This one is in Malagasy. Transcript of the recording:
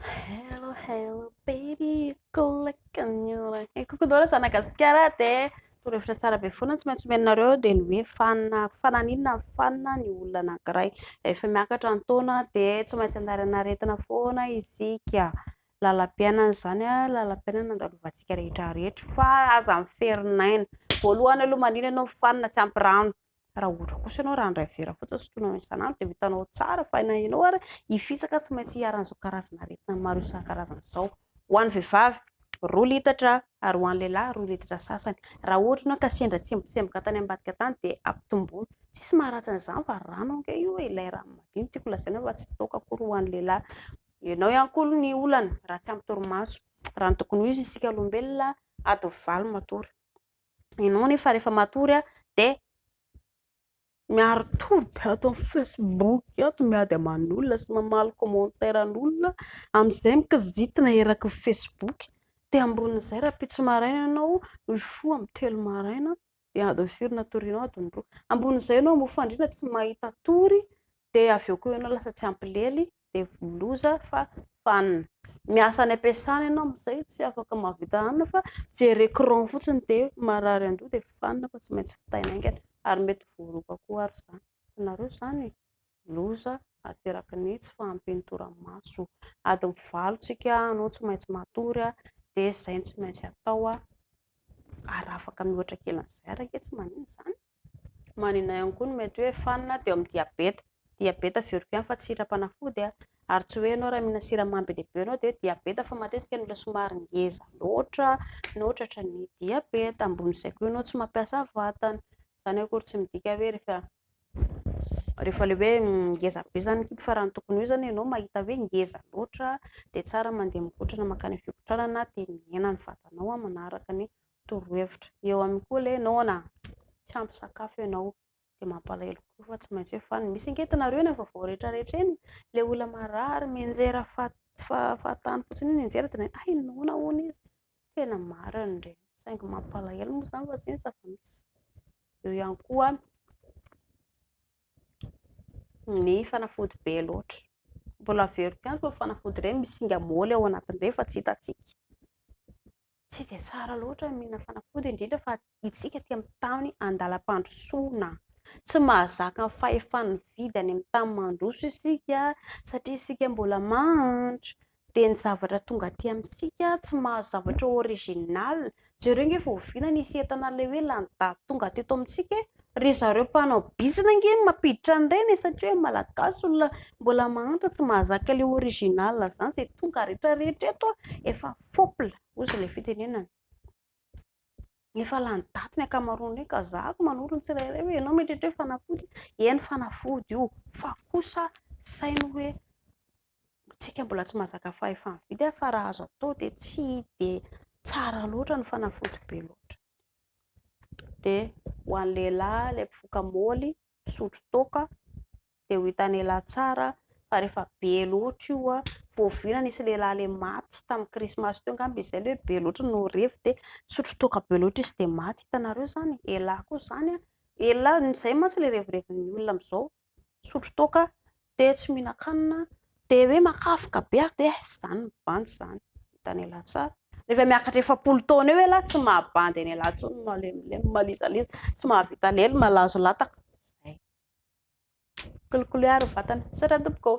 Hello, hello, baby, kolakanyora. E kokodora zanagasikara dia torohevitra tsara be foana tsy maintsy omenareo dia ny hoe fanina fananinna fanina ny olona anankiray. Rehefa miakatra ny taona dia tsy maintsy andaharana aretina foana isika. Lalam-piainana izany, lalam-piainana andalovantsika rehetra rehetra fa aza miferinaina. Voalohany aloha manina ianao fanina tsy ampy rano. Raha ohatra kosa ianao raha handray vera fotsiny sotroinao isan'andro dia ho hitanao tsara fa na ianao ary hifitsaka tsy maintsy hiharan'izao karazana aretina maro isan-karazany izao. Ho an'ny vehivavy, roa litatra ary ho an'ny lehilahy roa litatra sasany. Raha ohatra ianao ka sendra tsembotsemboka tany ambadika tany dia ampitomboina. Tsisy maharatsy an'izany fa rano ange io e, ilay rano madio no tiako lazaina fa tsy toaka akory ho an'ny lehilahy. Ianao ihany koa aloha ny olana raha tsy ampy torimaso. Raha ny tokony ho izy isika olombelona, adiny valo matory. ianao anefa rehefa matory a de miaro tory be ato amin'ny facebook ato miady aman'olona sy mamaly commentaire an'olona amin'izay mikizitina eraky ny facebook de ambonin'izay rahampitso maraina ianao mifoha amin'ny telo maraina de adiny firy no atorianao adiny roa ambonin'izay ianao moa fandriana tsy mahita tory de avy eo koa ianao lasa tsy ampy lely dia voa loza fa fanina. Miasa any am-piasana ianao amin'izay tsy afaka mahavita hanina fa jery écran fotsiny dia marary an-doha dia fanina fa tsy maintsy vitaina haingana ary mety voaroaka koa ary izany. Hitanareo izany e! Loza ateraky ny tsy fahampian'ny toramaso. Adiny valo isika no tsy maintsy matory dia izay no tsy maintsy atao ary afaka miohotra kely an'izay ary ange tsy maninona izany. Manina ihany koa ny mety hoe fanina teo amin'ny diabeta. Diabeta avy eo ihany koa fa tsy siram-panafody ary tsy hoe ianao raha mihinana siramamy be dia be ianao dia diabeta fa matetika ny olona somary ngeza loatra no tratran'ny diabeta. Ambonin'izay koa ianao tsy mampiasa vatana. Izany akory tsy midika hoe rehefa rehefa ilay hoe ngeza be izany ny kibo fa raha ny tokony ho izy izany ianao mahita hoe ngeza loatra dia tsara mandeha mikotrana mankany amin'ny fikotrana dia mihena ny vatanao manaraka ny torohevitra eo aminy koa le noana tsy ampy sakafo ianao dia mampalahelo koa fa tsy maintsy hoe fa ny misy ange tanareo eny efa voaretraretra eny le olona marary mianjera fahatany fotsiny ny anjera dia ay noana hono izy tena marina re saingy mampalahelo moa izany fa zeny zava-misy eo ihany koa ny fanafody be loatra mbola averiko ihany fa fanafody ireny misy singa moly ao anatin'ireny fa tsy hitantsika Tsy dia tsara loatra ny mihinana fanafody, indrindra fa isika aty amin'ny tany andalam-pandrosoana. Tsy mahazaka ny fahefany mividy any amin'ny tany mandroso isika satria isika mbola mahantra. Dia ny zavatra tonga aty amintsika tsy mahazo zavatra original. Jereo ange fa oviana nisy entana ilay hoe lany daty tonga teto amintsika e? Ry zareo mpanao bizina ange no mampiditra an'ireny e, satria hoe malagasy olona mbola mahantra tsy mahazaka le original zany, ze tonga rehetra rehetra eto efa fopla ozy le fitenenana. Efa lany daty ny ankamaroan'ireny ka za ko manoro ny tsirairay hoe enao mieritreritra hoe fanafody, eny fanafody io fa kosa saino hoe tsika mbola tsy mahazaka fahefa mividy fa raha azo atao de tsy de tsara loatra ny fanafody be loatra. dia ho an'ny lehilahy ilay mpifoka moly misotro toaka dia ho hitan'ny lehilahy tsara fa rehefa be loatra io an, voaviana nisy lehilahy ilay maty tamin'ny krismasy teo angamba izy izay ilay hoe be loatra no revy dia nisotro toaka be loatra izy dia maty, hitanareo izany e! elah koa izany an, elah, izay mantsy ilay revireviny olona amin'izao. misotro toaka, dia tsy mihinan-kanina, dia hoe makafika be ary dia izany mibanjy izany, hitan'i elah tsara, rehefa miakatra efapolo taona eo elah tsy mahabandy an'i elah intsony, malemilemy, malizaliza, tsy mahavita lely, malazo lataka, zay, mikolikoly ary ny vatana, misaotra tompoko ô.